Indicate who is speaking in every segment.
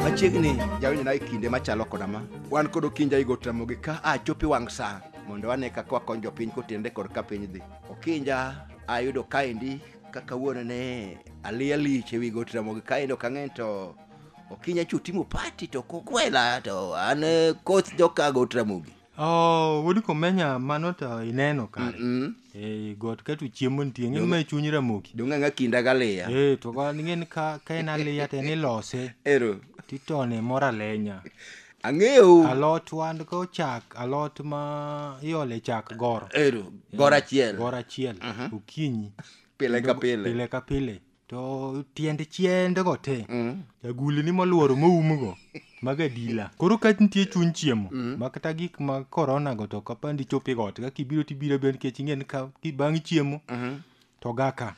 Speaker 1: machiegni jawinjo nayo kinde machalo koda ma wan kod okinja igo tamogi ka a chopi wang' sa mondo wane kaka wakony jopiny kotende kod ka piny dhi okinja ayudo kaendi ka kawuono ne aliya lich ewi go tamogi kaendi ok ang'eny to okinya chu timo party to kokwela to an eh, koth jokago tramogi Oh, wuod
Speaker 2: komenya mano to ineno kare Mm. Eh, got ka to chiemo nitie ng'e ma e chuny ramogi donge ng'a kinda galiya
Speaker 1: Eh, to ka ng'en
Speaker 2: ka ka en aliya to en ilose ero titone
Speaker 1: moro
Speaker 2: alenya ang'eyo
Speaker 1: alot wan
Speaker 2: ko chak alot ma iole chak goro ero gora
Speaker 1: achiel goro achiel
Speaker 2: okinyi pile ka
Speaker 1: pile pile ka pile
Speaker 2: to tiend chiendego te agulni molworo moumgo mag adila koro ka nitie chuny chiemo ma kata gik ma korona go to kapandi chopi got ka kibiro tibiro be nikech ing'en ka ki- bang' chiemo to gaka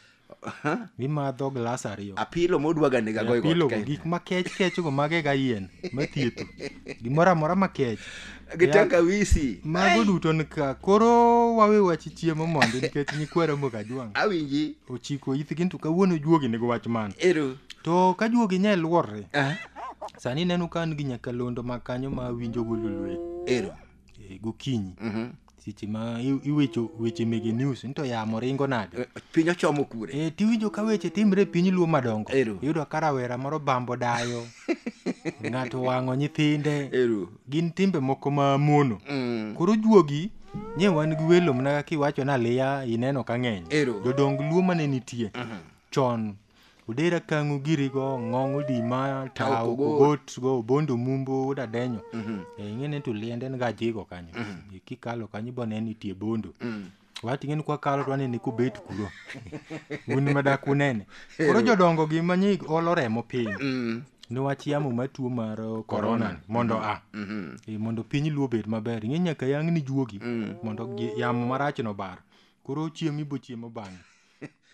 Speaker 2: imadho glas ariyo apilo modwaga nega
Speaker 1: goyo got pilogo kae. gik makech
Speaker 2: kechgo magega yien mathietho gimoro amora makech gi Yeah. tangawisi
Speaker 1: mago duto nika
Speaker 2: koro wawe wach chiemo mondi nikech nyikwa ramogi ajwang' awinji ochiko
Speaker 1: ithgi to
Speaker 2: kawuono juogi nigo wach man ero to
Speaker 1: ka juogi
Speaker 2: nya luorre Ah, sani neno ka an gi nyakalondo ma kanyo ma winjo golulwe ero
Speaker 1: e, gokinyi
Speaker 2: Mhm. seche ma i- iwecho weche mege news nito yamo ringo nade Eh, piny ochomo kure
Speaker 1: e, tiwinjo ka weche timre
Speaker 2: e piny luo madongo Ero. iyudo ka rawera
Speaker 1: moro
Speaker 2: bambo dayo ng'ato wang'o nyithinde ero gin
Speaker 1: timbe moko
Speaker 2: ma mono Mm. koro juogi nye wan gi welo mana kaka iwacho ni aliya ineno ka ng'eny Ero. jodong luo
Speaker 1: mane
Speaker 2: nitie chon Odera kang'u girigo ng'ong odima Ta tao okogot. kogot go bondo mumbo wuod adenyo Eh, ing'e ni to liende en ga jigo kanyo Eh, kikalo kanyo ibo neno nitie bondo wati ing'e ni kwakalo to wanene kobet kuro un madak unene koro jodongo gi manyi olo remo piny niwach yamo matuo mar eh, corona ni, mondo a Eh, mondo piny luo obed maber ing'e nyaka yang ni juogi mondo gi- yamo marachno bar koro chiemo ibo chiemo bang'e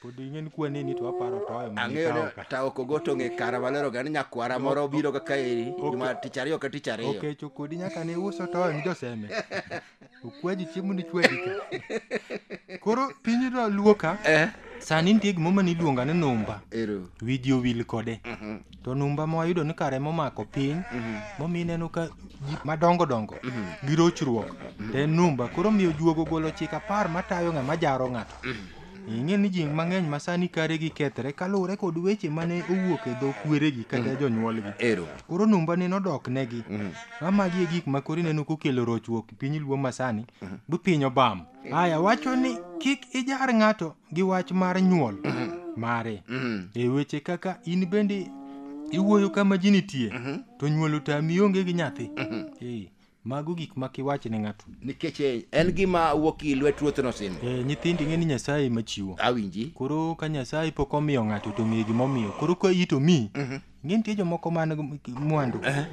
Speaker 2: pod ing'e ni kwane ni to aparo to oyo ang'eyo ni taoko go
Speaker 1: to ng'e kara malero ga ni nyakwara moro obiro kaka eri juma tich ariyo ka tich ariyo okecho kodi nyaka ne
Speaker 2: uso to oyo ni joseme okwaji chiemo ni chwedi ka koro piny to luo ka eh? sani nitie gimoma niluonga ni numba ero wiji owil
Speaker 1: kode
Speaker 2: mhm. to numba ma wayudo ni kare momako piny mhm. momi ineno ka madongo dongo mhm. gi rochruok mhm. to en numba koro miyo juogo golo chik apar matayo ng'a majaro ng'ato ing'e ni ji mang'eny ma sani kare gi kethre kaluwore kod weche mane owuok e dho kweregi kata mm. jonyuolgi koro numba
Speaker 1: ne nodok
Speaker 2: negi ma magi e gik ma koro ineno kokelo rochruok piny luo ma sani bi piny obam Aya wacho ni kik ijar ng'ato gi wach mar nyuol mare. Mm. E weche kaka in bende iwuoyo kama ji nitie to nyuol otami onge gi nyathi. Eh, mago gik ma kiwach ne ng'ato. nikech eh, en
Speaker 1: gima wuok i lwet ruoth nosimo Eh, nyithindi ng'e ni Nyasaye
Speaker 2: ema chiwo. awinji Koro
Speaker 1: ka Nyasaye
Speaker 2: pok omiyo ng'ato to ng'e gimomiyo. Koro ka iyi to miyi Ng'e nitie jomoko man gi mwandu Eh.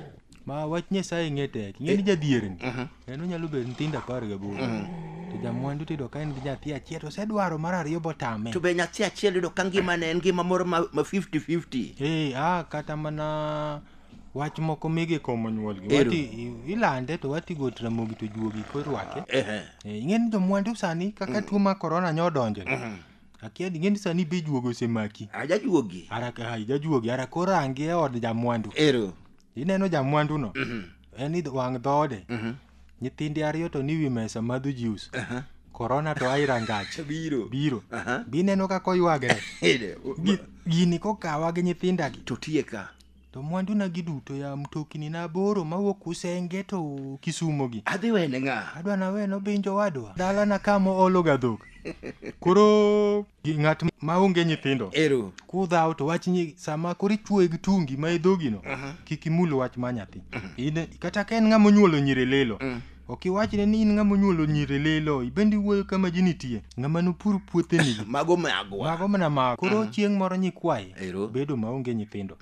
Speaker 2: ma wach Nyasaye ng'e tek. Ng'e ni jadhierni. Mhm. En onyalo bedo nyithindo apar gaboro. Mhm. To jamwandu tiyudo ka en gi nyathi achiel to osedwaro mar ariyo botame. To be nyathi achiel yudo
Speaker 1: ka ngima ne en ngima moro ma ma 50-50. Eh, ah, kata mana
Speaker 2: wach moko mege komo nyuolgi. Ero. Wati i- ilande to wati go tramogi to juogi korwake. Ehe. Eh, ing'e ni jomwandu sani kaka tuo ma korona nyo odonjo. Mhm. akia ni ng'eni sani be juogo osemaki ajajuogi ara
Speaker 1: ai, jajuogi ara
Speaker 2: koro angi e od jamwandu ero ineno
Speaker 1: jamwanduno
Speaker 2: en idh- wang' dhoode nyithinde ariyo to ni wi mesa madho juice korona to ai rangach biro biro Aha. bineno kaka oywagre Ere, o- Gi- gini kokawa gi nyithindagi to tieka
Speaker 1: To mwanduna gi
Speaker 2: duto ya mtokni na aboro mawuok Usenge to Kisumo gi. Adhi wene ng'a? Adwa
Speaker 1: na weno binjo
Speaker 2: wadwa. Dala na kama olo ga dhok. Koro gi ng'at ma onge nyithindo. Ero. Kudhaw
Speaker 1: to wach ni
Speaker 2: sama koro ichuoye gi tungi ma e dhogi no kik imul wach ma nyathi. In kata ka en ng'ama onyuolo nyiri lilo. Ok iwachne ni in ng'ama onyuolo nyiri lilo, ibende iwuoyo kama ji nitie. Ng'ama nopur puotheni. Mago magwa. Mago
Speaker 1: mana mago. Koro chieng'
Speaker 2: moro nyikwayi Ero. bedo maonge nyithindo.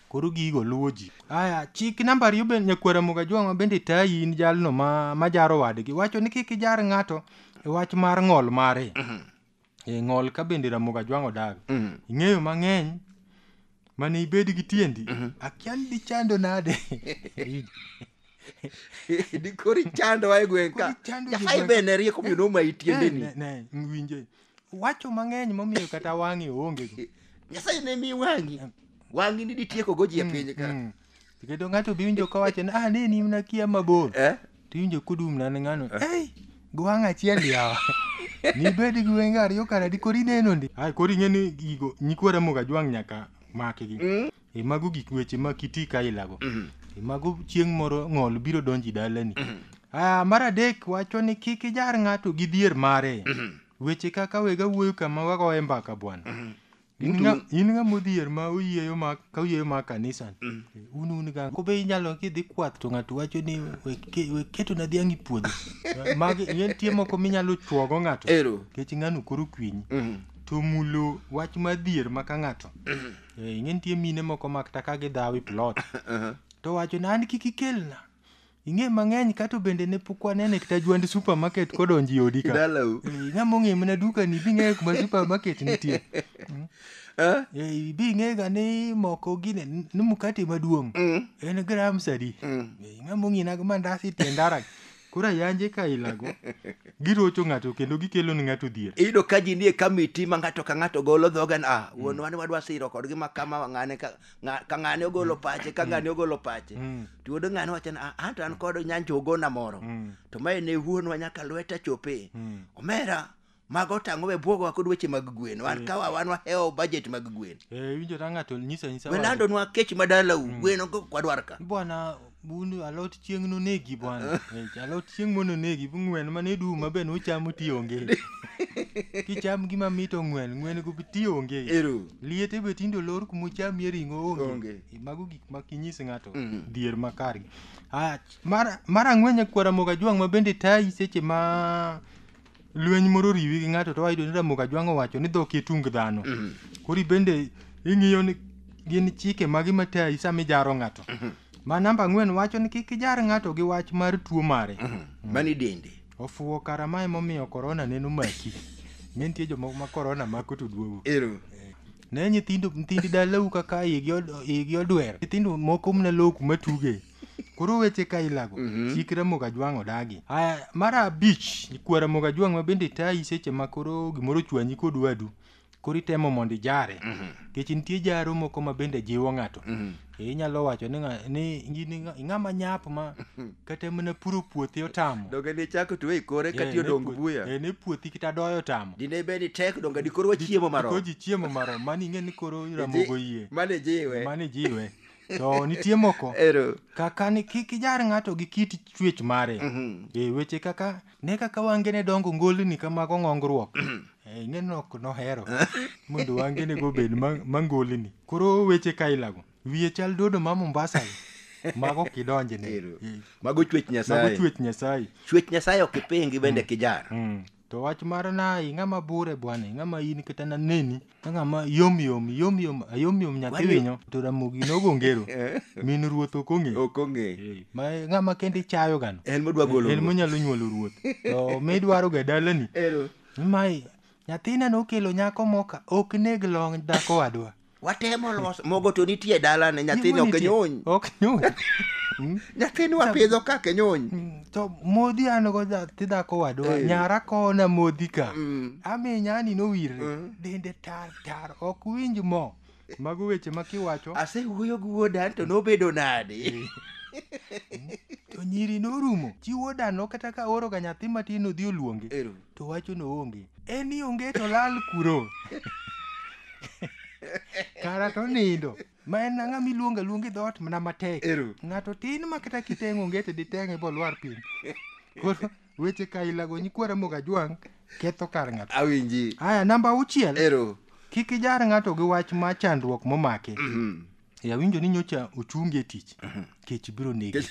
Speaker 2: Koro gigo luwo ji. Aya, chik namba ariyo bende nyakwara Muga Jwang'o bende tayi in jalno ma, ma jaro wadgi. Wacho ni kik ijar ng'ato e wach mar ng'ol mare. e ng'ol ka bende ramoga jwang'o dago Mm. ing'eyo mang'eny mane ibed gi tiendi akia ni dichando nade
Speaker 1: dikori chando wa e gweng' ka Kori chando ji nyasaye gweng' be ne rieko miyo noma itiendeni Ne, ne, ne, winje
Speaker 2: wacho mang'eny momiyo kata wang'e oonge
Speaker 1: go nyasaye ne mi wang'i wang'i
Speaker 2: ni
Speaker 1: ditiekogo ji e piny
Speaker 2: ka
Speaker 1: Mm. To
Speaker 2: kendo ng'ato be winjo kawacho ni ah ne nimna kia mabor Eh? to iwinjo kudum na ng'ano ei gwang' achiel yawa nibed gi wenge ariyo kara di kori neno ndi ai kori ng'e ni gigo nyikwa ramoga jwang' nyaka makgi Mm. e mago gik weche ma kiti ka ilago Mhm. e mago chieng' moro ng'ol biro donji dalani ah mar adek wacho ni kik ijar ng'ato gi dhier mare weche kaka wega wuoyo kama wagoye mbaka bwana In Duto- ng'a- in ng'a modhier ma oyieyo ma ka oyieyo ma kanisani un un ga kobe inyalo kidhi kwath to ng'ato wacho ni "We ke- we keto na dhiang' e puodho magi nitie moko minyalo chuogo ng'ato Ero. kech ng'ano koro kwinyi Mhm. to mulo wach madhier ma ka ng'ato Eh, ing'e nitie mine moko ma kata ka gidhawi plot to wacho ni an kik ikelna Ing'e mang'eny kato bende ne pok waneno e kta jwand supermarket kodonjo i odi ka. Dalau. Eh, Ng'ama ong'e mana dukani bi ng'eyo kuma supermarket nitie. Eh? Eh, Bi ng'ega ni moko gine ni mkate maduong' en gram sadi. Eh, Ng'ama ong'e nago mandas e tie ndara. Koro ayanje ka ilago girocho ng'ato kendo gikelo ni ng'ato dhier. iyudo ka ji nie
Speaker 1: kamiti ma ng'ato ka ng'ato golo dhoge ni ah wuonwa ni wadwa siro kodgi ma kama ng'ane ka Ng'a- ka ng'ane ogolo pache ka ng'ane ogolo pache Mm. to yudo ng'ane wacho ni "Ah, an to an kod nyanjo ogona moro Mm. to mae ne wuonwa nyaka lweta chope Mm. omera mago tang'o we bwogo wako dweche mag gwen wan kawa wan wahewo budget mag gwen Eh, winjo ta ng'ato
Speaker 2: nyisa nyisa we landonwa kech
Speaker 1: madalau gwen ogo kwadwar ka bwana Bundu
Speaker 2: alot chieng' nonegi bwana. Eh, alot chieng' mondo onegi bu ng'wen ma ne duma be nuchamo ti onge. Kicham gima mit ong'wen, ng'wen go ti onge. Ero. Liete be tindo lor kuma ucham ye ring'o onge. Onge. Eh, Mago gik ma kinyis ng'ato Mm. dhier makar. Ah, mar mar ang'wen nyakwara moga jwang' ma bende tayi seche ma lweny moro oriwi gi ng'ato to wayudo ni Ramogi Ajwang' owacho ni dhok e tung dhano. Koro ibende ing'iyo ni gin chike magi matayi sama ijaro ng'ato. Ma namba ang'wen wacho ni kik ijar ng'ato gi wach mar tuo mare. Mani dende.
Speaker 1: Ofuwo kara ma
Speaker 2: emomiyo korona neno maki. Ne nitie jomoko ma korona mako to duogo. Ero. Ne nyithindo nyithindi dalau kaka igi od- igi odwer. Nyithindo moko mne low kuma tuge. koro weche ka ilago Mhm. chik ramoga jwang' odagi aya mar abich ikwa ramoga jwang' ma bende tayi seche ma koro gimoro chwanyi kod wadu koro itemo mondo ijare nikech nitie jaro moko ma bende jiwo ng'ato Eh, inyalo wacho ni ng'a- ni in ng'a- ing'ama nyap ma kata mana puro puothi otamo donge ne chako tuwe
Speaker 1: ikore Eh, kati ne odong puo- buya eh, ne puothi kata doyo
Speaker 2: otamo dine bed ni tek donge
Speaker 1: dikoro wachiemo marom koji chiemo marom
Speaker 2: mani ing'e ni koro ramogo yie mane jiwe mani jiwe
Speaker 1: to nitie
Speaker 2: moko Ero. kaka ni kik ijar ng'ato gi kit chwech mare e weche kaka ne kaka wange ne dongo ngolni kamago ng'ongruok Eh, ing'e ni ok nohero mondo wange ne go bed ma- mangolni koro weche kailago wiye chal dodo ma mombasa mago kidonjne Ero. Eh, Mago chwech mago
Speaker 1: Nyasaye. chwech nyasaye Chwech Nyasaye ok ipingi bende kijar. Mm. To wach mar
Speaker 2: na i ng'ama bure bwana, i ng'ama in kata na neni ka ng'ama yom yom yom yom a yom yom nyathi Wani- winyo to ramogi nogo ngero Eh, min ruoth ok ong'e. ok ong'e Eh, Ma ng'ama kende ichayo gano. en modwa golo En ruoth. monyalo
Speaker 1: nyuolo ruoth.
Speaker 2: To midwaro ga dalani. Ero. Mai nyathina nokelo nyako moka ok neg long' dhako wadwa. watemo loso
Speaker 1: mogo to nitie e dalane nyathini ok nyuny ok nyuny
Speaker 2: nyathini
Speaker 1: wapidho ka kenyuny Mm, to modhi
Speaker 2: an go nyathi dhako wadwa Eh. nyara kona modhi ka Mm. ami nyani nowirre Mm. dende tar tar ok winj mo mago weche ma kiwacho asewuoyo gi wuoda
Speaker 1: to nobedo nade
Speaker 2: to nyiri norumo chi wuodano kata ka oro ga nyathi matin odhi oluonge Ero. to wachono onge en ni onge to lal kuro kara to nindo ma en ang'a miluonga luongi dhoot mana matek Ero. ng'ato tin ma kata kiteng' onge to diteng'e bolwar piny koro weche kailago nyikwara moga jwang' ketho kar ng'ato awinji aya namba
Speaker 1: auchiel
Speaker 2: ero kik ijar ng'ato gi wach ma chandruok momake e awinjo ni nyocha ochungi e tich kech biro negi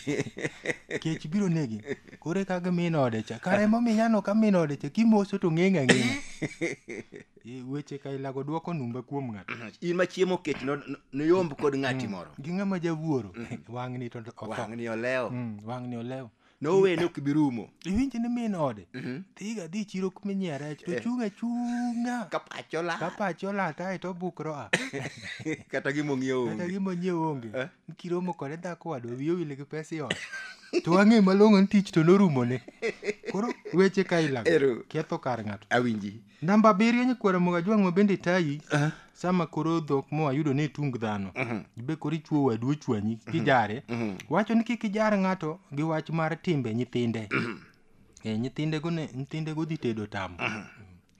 Speaker 2: kech biro negi kore kaka min ode cha kare momiya no ka min ode cha kimoso to ng'eng' ang'eng' E, weche kailago dwoko numba kuom ng'ato in ma chiemo kech
Speaker 1: no- no- noyomb kod ng'ati moro gi ng'ama jawuoro
Speaker 2: wang'ni to otho wang'ni olewo Mm,
Speaker 1: wang'ni olewo
Speaker 2: No way no kibirumo.
Speaker 1: Iwinjo ni min ode.
Speaker 2: Mhm. Dhiga dhi chiro kuma inyiewo rech to chunga chunga. Kapacho la. Kapacho la tae to bukro a. Kata gimo
Speaker 1: ng'iewo.
Speaker 2: Kata gimo ng'iewo onge. Eh?
Speaker 1: Kiromo
Speaker 2: kode dhako wado wiyo wile gi
Speaker 1: pesa
Speaker 2: iot. To wang'e malong'o ni tich to norumo ne. Koro weche ka ilago. Ketho kar ng'ato. Awinji. Namba
Speaker 1: abiriyo nyikwara
Speaker 2: mogo ajwang' ma bende tayi sama koro dhok mo ayudo ni itung dhano ibe koro ichuo wadu ochwanyi kijare wacho ni kik ijar ng'ato gi wach mar timbe nyithinde Eh, nyithindego ne nyithindego dhi tedo tamo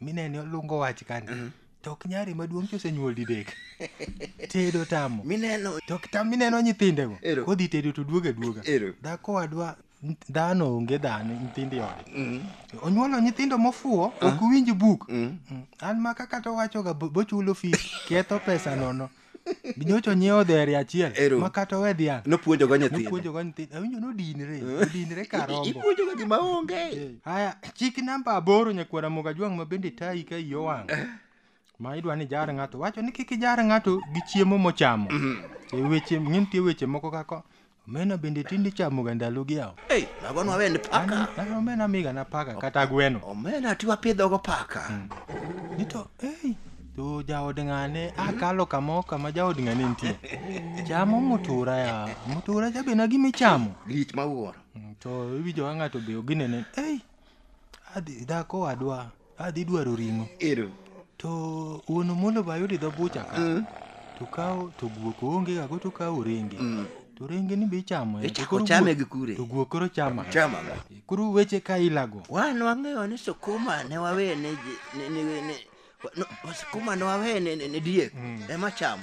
Speaker 2: minene olungo wach kani to ok nyari maduong' chosenyuol didek tedo tamo mineno to kita
Speaker 1: mineno
Speaker 2: nyithindego Ero. kodhi tedo to duoga duoga Ero. dhako wadwa dhano onge dhano nyithindo e ode mm. onyuolo nyithindo mofuwo ah. ok winj buk mm. Mm. an ma kaka to wachoga bochulo fi ketho pesa nono nyocha onyiewo dhere achiel ma kata owe dhiang' nopuonjogo nyithindopuonjogo
Speaker 1: nyithindo awinjo nodinre
Speaker 2: odinre karomboipuonjogo gima onge
Speaker 1: eh. haya chik
Speaker 2: namba aboro nyakwara moga jwang' ma bende tayi ka iyo wang' eh. ma idwa ni jar ng'ato wacho ni kik ijar ng'ato gi chiemo mochamo e weche ng'e nitie weche moko kaka omena bende tinde ichamoga ndalogi yawo Ei, mago nwawend paka
Speaker 1: An- omena amigana
Speaker 2: paka kata gweno omena ti wapidhogo
Speaker 1: paka ni to
Speaker 2: ei to jaod ng'ane akalo kamo kama jaod ng'ane nitie chamo mutura ya mutura cha bena gima ichamo lich mawuoro Mm,
Speaker 1: to iwinjo ka
Speaker 2: ng'ato be oginene ei adhi dhako wadwa Adhi dwaro ring'o. Ero. To wuon Omolo be ayudo e dho bucha ka. Mm. To kawo to guok oonge ga go to kawo renge. Mm. To renge ni be ichamo. E Ichako chame gi kure.
Speaker 1: To guok koro chama.
Speaker 2: Chama. E, koro
Speaker 1: weche ka
Speaker 2: ilago. Wan wang'eyo ni
Speaker 1: sukuma ne wawe ne ne ne ne sukuma ne wawe ne ne diek mm. ema chamo.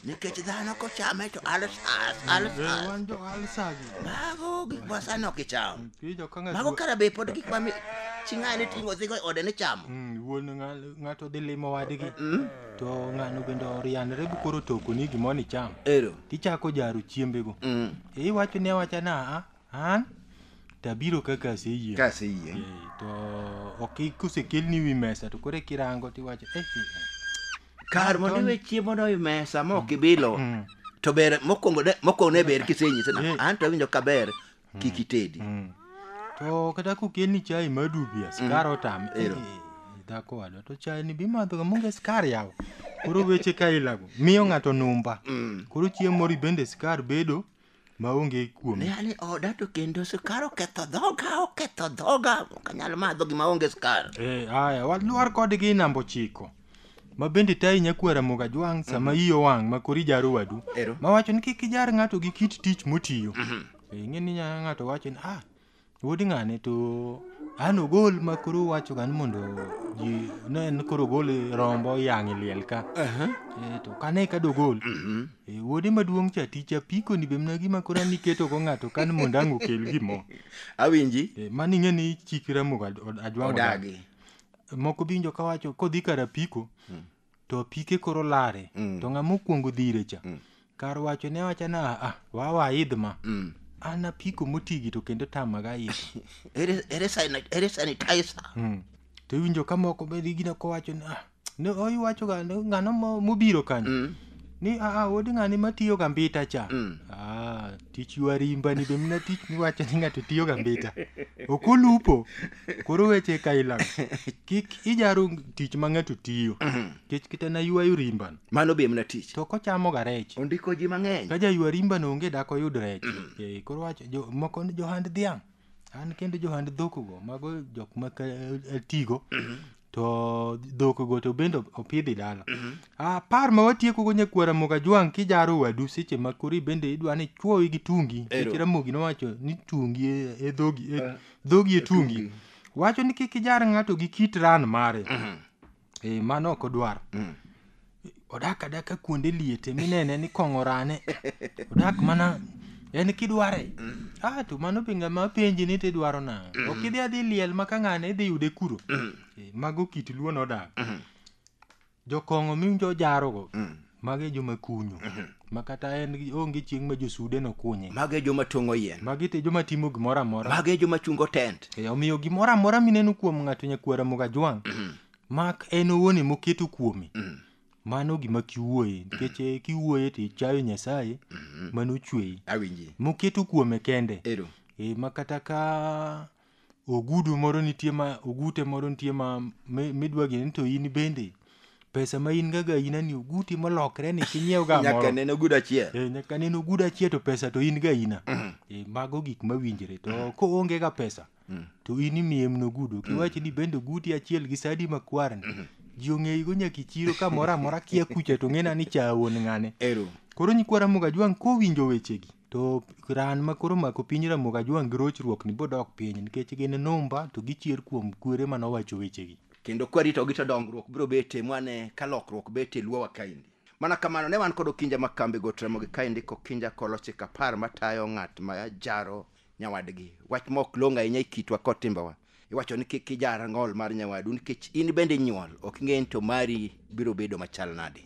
Speaker 1: nikech dhano kochame to alsas alsas
Speaker 2: mago gik ma
Speaker 1: sani ok icham mago kara be pod gik ma chi ng'ani ting'o dhigo e ode ni chamo mm, wuon
Speaker 2: ng'ato dhi limo wadgi mm. to ng'ano bende orianre bu koro toko ni gimoro ni cham ero tichako jaro chiembego mm. e iwacho ni awacha na a an tabiro kaka aseyie ka aseyie eh, to ok kusekelni wi mesa to koro e kirango tiwacho eh, eh, eh.
Speaker 1: kar mondo iwe chiemo no i mesa ma ok ibilo Mm. to ber mokwongo ne- mokwongo ne ber kisenyise na an to awinjo ka ber kik itedi Mm. to
Speaker 2: kata kokeni chai madubi a skar otam Ero. Eh, dhako wadwa to chai ni bimadhoga monge skar yawo koro weche ka ilago miyo ng'ato numba Mm. koro chiemori bende skar bedo maonge kuome ne an e oda to kendo
Speaker 1: sukar oketho dhoga oketho dhoga ok anyal madho gima onge sukar Eh, aya walwar
Speaker 2: kodgi namba ochiko ma bende tayi nyakuar Ramogi Ajwang' sama iyi owang' ma kori jaro wadu Ero. ma wacho ni kik ijar ng'ato gi kit tich motiyo Eh, ing'e ni nya ng'ato wacho ni ah Wuod ng'ane to an ogol ma koro wacho gan mondo ji ne en koro ogol rombo yang' e liel ka Eh, to kane ka dogol eh, wuode maduong' cha tich apiko ni bemna gima koro an iketo go ng'ato kan mondo ang' okel gimo awinji Eh,
Speaker 1: mano ing'e ni
Speaker 2: chik ramogo ajwang'o odagi
Speaker 1: moko binjo
Speaker 2: kawacho kodhi kar apiko to apike koro lare mm. to ng'ama okuongo dhire cha mm. kar wacho ne wacha na ah, wawa idh ma mm. an apiko motigi to kendo tamaga idh
Speaker 1: ere sanitizer mm. to iwinjo
Speaker 2: ka moko be gina kowacho ni ah, ne oiwacho ga ng'ano mobiro kanyo mm. ni aa ah, ah, wod ng'ani matiyo ga mbita cha mm. ah, tich ywa rimba ni be mna tich miwacho ni ng'ato tiyo ga mbita ok olupo koro weche ka ilang kik ijaro tich ma ng'ato tiyo kech kita na ywayo rimbano mano be mna tich to
Speaker 1: kochamo ga rech
Speaker 2: ondiko ji mang'eny ka
Speaker 1: jaywa rimbano onge
Speaker 2: dak oyud rech Eh, koro wacho jo- moko ni johand dhiang' an kendo johand dhokgo mago jok ma atigo to dhokgo to bende opidhi dala apar ma watiekogo nyakwara mogajwang' kijaro wadu seche ma kori bende idwa ni chwowi gi tungi Ero. seche ramogi nowacho ni tungi e- e dhogi e- dhogi e tungi wacho ni kik ijar ng'ato gi kit ran mare Eh, mano ok odwar mm. odak adaka kuonde liete minene ni kong'o rane odak mana en kidware mm. ah, to mano be ng'ama penji ni tidwaro nang'o mm. ok idhi adhi liel ma ka ng'ane idhi yude kuro mm. eh, mago kit luo nodak mm. jokong'o miwinjo ojarogo mm. Magi e joma kunyo. Mhm. Ma kata en onge chieng' ma josude nokunye. Magi e joma tong'o yien.
Speaker 1: Magi e joma timo
Speaker 2: gimoro amora. Magi e joma chungo tent.
Speaker 1: E, omiyo gimoro amora
Speaker 2: mineno kuom ng'ato nyakwar Ramogi Ajwang', mhm. mak en owuon ema oketo kuome. Mhm. Mano gima kiwuoye nikech eh, kiwuoye to ichayo Nyasaye mano ochweyi. Awinji. Moketo
Speaker 1: kuome
Speaker 2: kende. Ero. E, ma kata ka ogudu moro nitie ma ogute moro nitie ma mi- midwa gini ni to in bende pesa ma in gaga ina ni oguti molokre ni kinyiew ga nyaka moro nene ogudu achiel Eh,
Speaker 1: nyaka neno ogudu
Speaker 2: achiel to pesa to in ga ina Eh, mago gik mawinjre to koonge ga pesa to in imiye mno ogudu kiwach ni bende oguti achiel gi sadi makwar ni ji ong'eyigo nyaka ichiro ka moro amora kia kucha to ng'ena ni cha wuon ng'ane ero Koro nyikwara Mugajwang' kowinjo wechegi To ran ma koro omako piny Ramogi Ajwang' gi rochruok ni bodok piny nikech gin numba to gichier kuom kwere mane owacho wechegi. Kendo kwaritogi to
Speaker 1: dongruok biro betie mwane ka lokruok betie e Luowa kaendi. Mana kamano ne wan kod Okinja ma kambi Got Ramogi kaendi k'Okinja kolo chik apar matayo ng'at ma jaro nyawadgi. Wach ma ok long' ahinya e kitwa kod timbewa. Iwacho ni kik ijar ng'ol mar nyawadu nikech in bende inyuol, ok ing'e ni to mari biro bedo machal nadi.